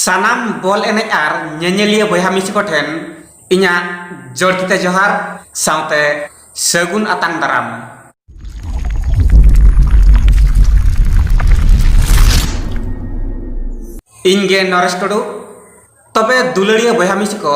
ᱥᱟᱱᱟᱢ ᱵᱚᱞ ᱮᱱᱮᱡ ᱟᱨ ᱧᱮᱧᱮᱞᱤᱭᱟᱹ ᱵᱚᱭᱦᱟ ᱢᱤᱥᱤ ᱠᱚ ᱴᱷᱮᱱ ᱤᱧᱟᱹᱜ ᱡᱚᱲᱛᱤ ᱛᱮ ᱡᱚᱦᱟᱨ ᱥᱟᱶᱛᱮ ᱥᱟᱹᱜᱩᱱ ᱟᱛᱟᱝ ᱫᱟᱨᱟᱢ᱾ ᱤᱧ ᱜᱮ ᱱᱚᱨᱮᱥ ᱴᱩᱰᱩ᱾ ᱛᱚᱵᱮ ᱫᱩᱞᱟᱹᱲᱤᱭᱟᱹ ᱵᱚᱭᱦᱟ ᱢᱤᱥᱤ ᱠᱚ᱾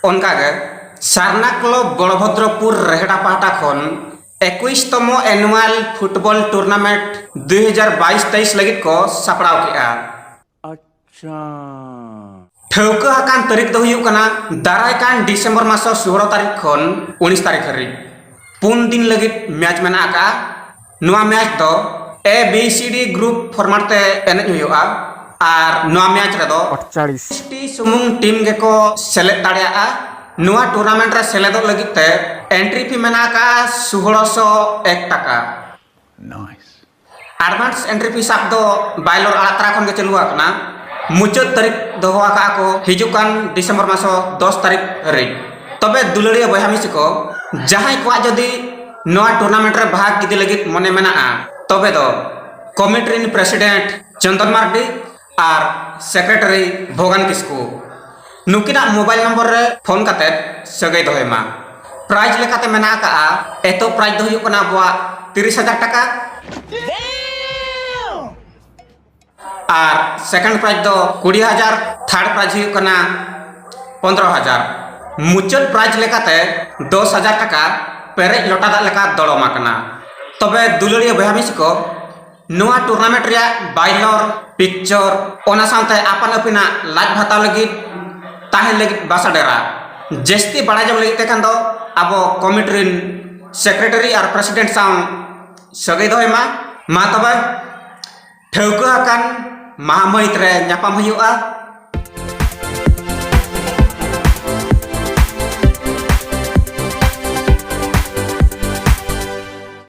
ᱚᱱᱠᱟᱜᱮ ᱥᱟᱨᱱᱟ ᱠᱞᱚᱵᱽ ᱵᱚᱲᱵᱷᱚᱫᱨᱚᱯᱩᱨ ᱨᱮᱦᱰᱟ ᱯᱟᱦᱴᱟ ᱠᱷᱚᱱ ᱮᱠᱩᱭᱤᱥ ᱛᱚᱢᱚ ᱮᱱᱩᱣᱟᱞ ᱯᱷᱩᱴᱵᱚᱞ ᱴᱩᱨᱱᱟᱢᱮᱱᱴ ᱫᱩᱭ ᱦᱟᱡᱟᱨ ᱵᱟᱭᱤᱥ ᱛᱮᱭᱤᱥ ᱞᱟᱹᱜᱤᱫ ᱠᱚ ᱥᱟᱯᱲᱟᱣ ᱠᱮᱫᱼᱟ ᱴᱷᱟᱹᱣᱠᱟᱹ ᱟᱠᱟᱱ ᱛᱟᱹᱨᱤᱠᱷ ᱫᱚ ᱦᱩᱭᱩᱜ ᱠᱟᱱᱟ ᱫᱟᱨᱟᱭ ᱠᱟᱱ ᱰᱤᱥᱮᱢᱵᱚᱨ ᱢᱟᱥᱚ ᱥᱳᱞᱳ ᱛᱟᱹᱨᱤᱠᱷ ᱠᱷᱚᱱ ᱩᱱᱤᱥ ᱛᱟᱹᱨᱤᱠᱷ ᱦᱟᱹᱨᱤᱡ ᱯᱩᱱ ᱫᱤᱱ ᱞᱟᱹᱜᱤᱫ ᱢᱮᱪ ᱢᱮᱱᱟᱜ ᱟᱠᱟᱫᱼᱟ ᱱᱚᱣᱟ ᱢᱮᱪ ᱫᱚ A B C D group ᱯᱷᱚᱨᱢᱟᱴ ᱛᱮ ᱮᱱᱮᱡ ᱦᱩᱭᱩᱜᱼᱟ ᱟᱨ ᱱᱚᱣᱟ ᱢᱮᱪ ᱨᱮᱫᱚ ᱟᱴᱪᱟᱲᱤᱥ ᱴᱤ ᱥᱩᱢᱩᱝ ᱴᱤᱢ ᱜᱮᱠᱚ ᱥᱮᱞᱮᱫ ᱫᱟᱲᱮᱭᱟᱜᱼᱟ ᱱᱚᱣᱟ ᱴᱩᱨᱱᱟᱢᱮᱱᱴ ᱨᱮ ᱥᱮᱞᱮᱫᱚᱜ ᱞᱟᱹᱜᱤᱫ ᱛᱮ ᱮᱱᱴᱨᱤ ᱯᱷᱤ ᱢᱮᱱᱟᱜ ᱟᱠᱟᱫᱼᱟ ᱥᱩᱦᱚᱲᱚ ᱥᱚ ᱮᱠ ᱴᱟᱠᱟ ᱟᱰᱵᱷᱟᱱᱥ ᱮᱱᱴᱨᱤ ᱯᱷᱤ ᱥᱟᱵ ᱫᱚ ᱵᱟᱭᱞᱚᱨ ᱟᱲᱟᱜ ᱛᱟᱨᱟ ᱠᱷᱚᱱ ᱜᱮ ᱪᱟᱹᱞᱩ ᱟᱠᱟᱱᱟ ᱢᱩᱪᱟᱹᱫ ᱛᱟᱹᱨᱤᱠᱷ ᱫᱚᱦᱚ ᱟᱠᱟᱫᱼᱟ ᱠᱚ ᱦᱤᱡᱩᱜ ᱠᱟᱱ ᱰᱤᱥᱮᱢᱵᱚᱨ ᱢᱟᱥᱚ ᱫᱚᱥ ᱛᱟᱹᱨᱤᱠᱷ ᱦᱟᱹᱨᱤᱡ ᱛᱚᱵᱮ ᱫᱩᱞᱟᱹᱲᱤᱭᱟᱹ ᱵᱚᱭᱦᱟ ᱢᱤᱥᱤ ᱠᱚ ᱡᱟᱦᱟᱸᱭ ᱠᱚᱣᱟᱜ ᱡᱩᱫᱤ ᱱᱚᱣᱟ ᱴᱩᱨᱱᱟᱢᱮᱱᱴ ᱨᱮ ᱵᱷᱟᱜᱽ ᱤᱫᱤ ᱞᱟᱹᱜᱤᱫ ᱢᱚᱱᱮ ᱢᱮᱱᱟᱜᱼᱟ ᱛᱚᱵᱮ ᱫᱚ ᱠᱚᱢᱤᱴᱤ ᱨᱮᱱ ᱯᱨᱮᱥᱤᱰᱮᱱᱴ ᱪᱚᱱᱫᱚᱱ ᱢᱟᱨᱰᱤ ᱟᱨ ᱥᱮᱠᱨᱮᱴᱟᱨᱤ ᱵᱷᱚᱜᱟᱱ ᱠᱤᱥᱠᱩ ᱱᱩᱠᱤᱱᱟᱜ ᱢᱳᱵᱟᱭᱤᱞ ᱱᱚᱢᱵᱚᱨ ᱨᱮ ᱯᱷᱳᱱ ᱠᱟᱛᱮ ᱥᱟᱹᱜᱟᱹᱭ ᱫᱚᱦᱚᱭ ᱢᱟ ᱯᱨᱟᱭᱤᱡᱽ ᱞᱮᱠᱟᱛᱮ ᱢᱮᱱᱟᱜ ᱟᱠᱟᱫᱼᱟ ᱮᱛᱚᱦᱚᱵ ᱯᱨᱟᱭᱤᱡᱽ ᱫᱚ ᱦᱩᱭᱩᱜ ᱠᱟᱱᱟ ᱟᱵᱚᱣᱟᱜ ᱛᱤᱨᱤᱥ ᱦᱟᱡᱟᱨ ᱴᱟᱠᱟ ᱟᱨ ᱥᱮᱠᱮᱱᱰ ᱯᱨᱟᱭᱤᱡᱽ ᱫᱚ ᱠᱩᱲᱤ ᱦᱟᱡᱟᱨ ᱛᱷᱟᱨᱰ ᱯᱨᱟᱭᱤᱡᱽ ᱦᱩᱭᱩᱜ ᱠᱟᱱᱟ ᱯᱚᱱᱫᱨᱚ ᱦᱟᱡᱟᱨ ᱢᱩᱪᱟᱹᱫ ᱯᱨᱟᱭᱤᱡᱽ ᱞᱮᱠᱟᱛᱮ ᱫᱚᱥ ᱦᱟᱡᱟᱨ ᱴᱟᱠᱟ ᱯᱮᱨᱮᱡ ᱞᱚᱴᱟ ᱫᱟᱜ ᱞᱮᱠᱟ ᱫᱚᱲᱚᱢ ᱟᱠᱟᱱᱟ ᱛᱚᱵᱮ ᱫᱩᱞᱟᱹᱲᱤᱭᱟᱹ ᱵᱚᱭᱦᱟ ᱢᱤᱥᱤ ᱠᱚ ᱱᱚᱣᱟ ᱴᱩᱨᱱᱟᱢᱮᱱᱴ ᱨᱮᱭᱟᱜ ᱵᱟᱭᱞᱚᱨ ᱯᱤᱠᱪᱚᱨ ᱚᱱᱟ ᱥᱟᱶᱛᱮ ᱟᱯᱟᱱ ᱟᱹᱯᱤᱱᱟᱜ ᱞᱟᱡ ᱵᱷᱟᱛᱟᱣ ᱞᱟᱹᱜᱤᱫ ᱛᱟᱦᱮᱸ ᱞᱟᱹᱜᱤᱫ ᱵᱟᱥᱟ ᱰᱮᱨᱟ ᱡᱟᱹᱥᱛᱤ ᱵᱟᱲᱟᱭ ᱡᱚᱝ ᱞᱟᱹᱜᱤᱫ ᱛᱮᱠᱷᱟᱱ ᱫᱚ ᱟᱵᱚ ᱠᱚᱢᱤᱴᱤ ᱨᱮᱱ ᱥᱮᱠᱨᱮᱴᱟᱨᱤ ᱟᱨ ᱯᱨᱮᱥᱤᱰᱮᱱᱴ ᱥᱟᱶ ᱥᱟᱹᱜᱟᱹᱭ ᱫᱚᱦᱚᱭ ᱢᱟ ᱢᱟ ᱛᱚᱵᱮ ᱴᱷᱟᱹᱣᱠᱟᱹ ᱟᱠᱟᱱ ᱢᱟᱦᱟ ᱢᱟᱹᱦᱤᱛ ᱨᱮ ᱧᱟᱯᱟᱢ ᱦᱩᱭᱩᱜᱼᱟ